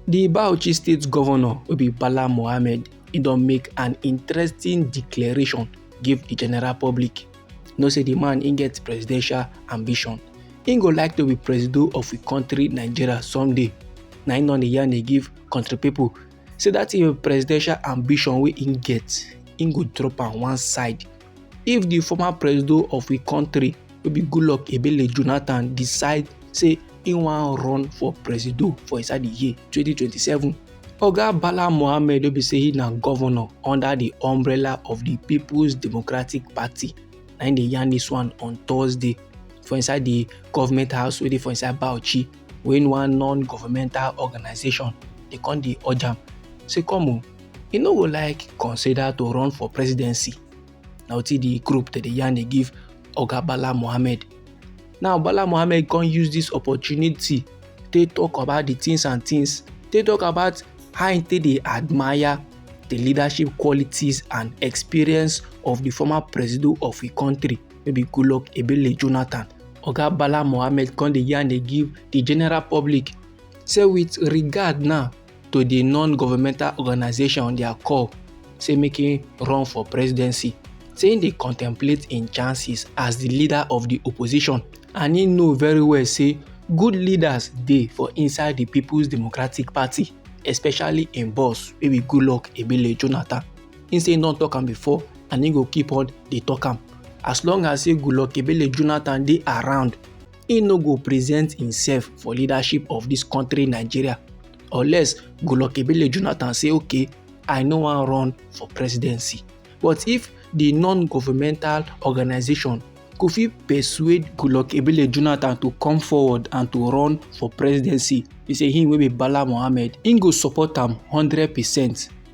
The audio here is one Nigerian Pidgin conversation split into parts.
Di Bauchi State Governor wey be Bala Mohammed e don make an interesting declaration give di general public. You know say di man im get presidential ambition. Im go like to be presido of we country Nigeria someday. Na im don dey yarn dey give country pipu say dat im presidential ambition wey im get, im go drop am one side. if di former presido of we kontri wey be goodluck ebele jonathan decide say e wan run for presido for inside di year 2027 oga bala mohammed wey be say he na governor under di umbrella of di peoples democratic party na im dey yarn dis one on thursday for inside di government house wey dey for inside bauchi when one non-governmental organization dey come dey urge am say come o e no go like consider to run for presidency na wetin the group dey dey yarn dey give oga bala mohammed now bala mohammed come use this opportunity take talk about the things and things take talk about how he take dey admire the leadership qualities and experience of the former presido of him country no be Goodluck Ebele Jonathan. Oga Bala Mohammed come dey yarn dey give the general public say with regard now to the non-governmental organization on their call say make him run for presidency say him dey contemplate im chances as the leader of the opposition and he know very well say good leaders dey for inside the people's democratic party especially im boss wey be goodluck ebele jonathan He say he don talk am before and he go keep on dey talk am. As long as say Goodluck Ebele Jonathan dey around, he no go present himself for leadership of this country Nigeria unless Goodluck Ebele Jonathan say okay, I no wan run for presidency. But if the non-governmental organization go fit persuade Goodluck Ebele Jonathan to come forward and to run for presidency. He say him wey be Bala Mohammed, him go support am 100 percent.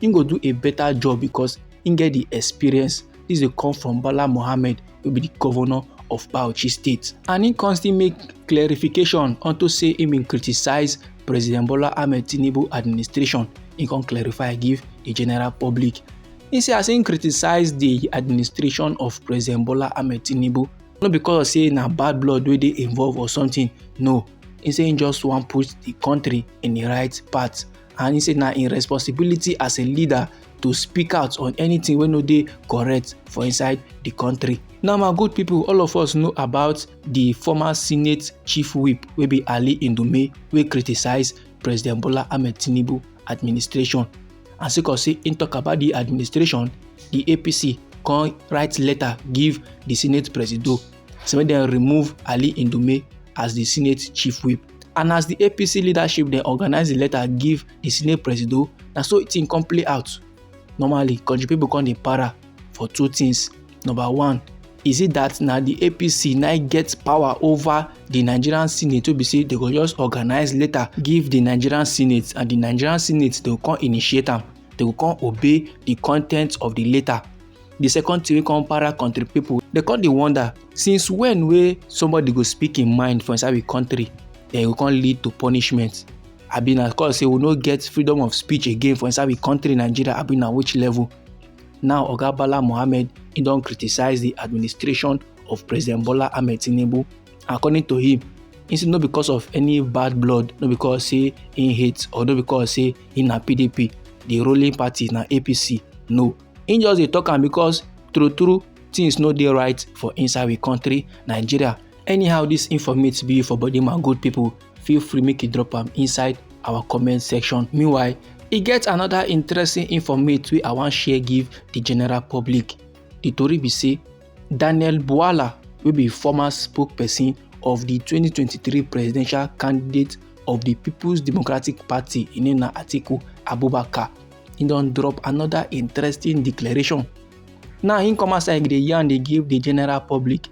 he go do a better job because he get the experience This dey come from Bala Mohammed wey be the governor of Bauchi State. And he constantly make clarification unto say he bin criticize President Bola Ahmed Tinubu administration. He come clarify give the general public. He say as he criticize the administration of President Bola Ahmed Tinubu, no because say na bad blood wey dey involved or something, no. He say he just wan put the country in the right path. and he say na im responsibility as a leader to speak out on anything wey no dey correct for inside di kontri. now my good pipo all of us know about di former senate chief whip wey be ali ndume wey criticise president bola ahmed tinubu administration and sake of say im tok about di administration di apc come write letter give di senate presido say make dem remove ali indume as di senate chief whip and as di apc leadership dem organize di letter give di senate presido na so thing come play out normally country people come dey para for two things number one is it that na di apc na get power over di nigerian senate wey be say dem go just organize letter give di nigerian senate and di nigerian senate dey come initiate am they go come obey the contents of the letter the second thing wey come para country people they come dey wonder since when wey somebody go speak im mind for inside we country then e go come lead to punishment abi na cause say we no get freedom of speech again for inside we country nigeria abi na which level now oga bala mohammed he don criticize the administration of president bola ahmed tinubu according to him he say no because of any bad blood no because say he hate or no because say he na pdp the ruling party na apc no he just dey talk am because true true things no dey right for inside we country nigeria anyhow this informate be for body man good people feel free make you drop am inside our comment section meanwhile e get another interesting informate wey i wan share give the general public the tori be say Daniel Bwala wey be former spokesperson of di 2023 presidential candidate of di People's Democratic Party Inena Atiku Abubakar he don drop another interesting declaration. Now he come outside dey yarn dey give the general public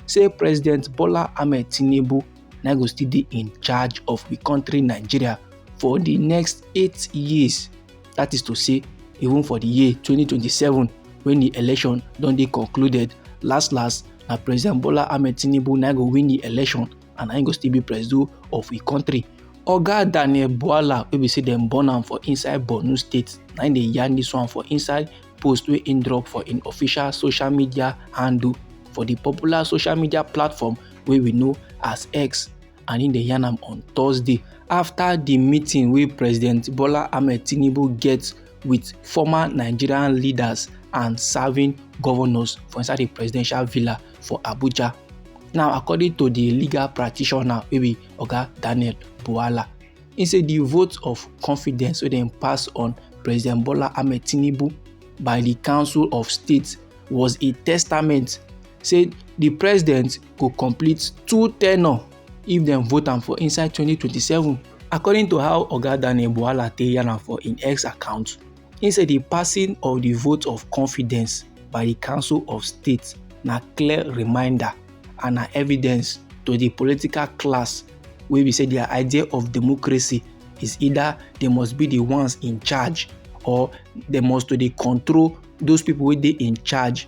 say President Bola Ahmed Tinubu na go still dey in charge of the country Nigeria for the next eight years. that is to say even for the year 2027 when the election don dey concluded last last na president bola ahmed tinubu na go win the election and na go still be president of the country oga daniel buala wey be say dem born am for inside borno state na im dey yarn dis one for inside post wey im drop for im official social media handle for di popular social media platform wey we know as x and im dey yarn am on thursday afta di meeting wey president bola ahmed tinubu get wit former nigerian leaders and serving governors for inside di presidential villa for abuja now according to di legal practitioner wey be oga daniel buwala im say di vote of confidence wey dem pass on president bola ahmed tinubu by di council of state was a testament say di president go complete two tenure if dem vote am for inside 2027 according to how oga daniel buwala take yarn am for im x account im say di passing of di vote of confidence by di council of state na clear reminder and na evidence to di political class wey be say dia idea of democracy is either they must be the ones in charge or they must to dey control those people wey dey in charge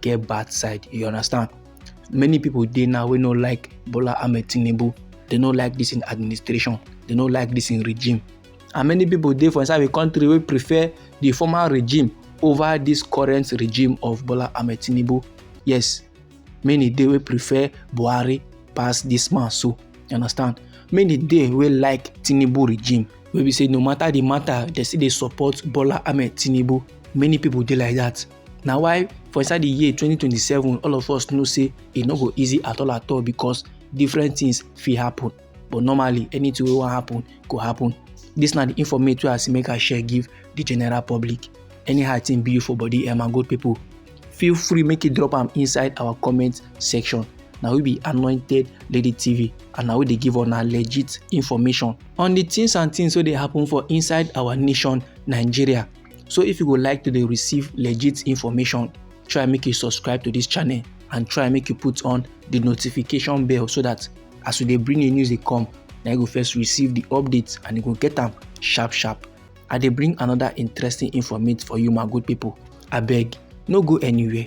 get bad side you understand many people dey now wey no like bola ahmed tinubu they no like this in administration they no like this in regime and many people dey for inside the country wey prefer the former regime over this current regime of bola ahmed tinubu yes many dey wey prefer buhari pass this man so you understand many dey wey like tinubu regime wey be say no matter the matter they still dey support bola ahmed tinubu many people dey like that na why for inside the year 2027 all of us know say e no go easy at all at all because different things fit happen but normally anything wey wan happen go happen this na the informate wey i see make i share give the general public anyhow thing be you for body um, and good people feel free make you drop am inside our comment section na we be anointed lady tv and na we dey give una legit information on the things and things wey dey happen for inside our nation nigeria So if you would like to dey receive legit information, try make you subscribe to this channel and try make you put on the notification bell so that as we dey bring new news dey come, na you go first receive the updates and you go get am sharp sharp. I dey bring another interesting informate for you my good people. Abeg, no go anywhere.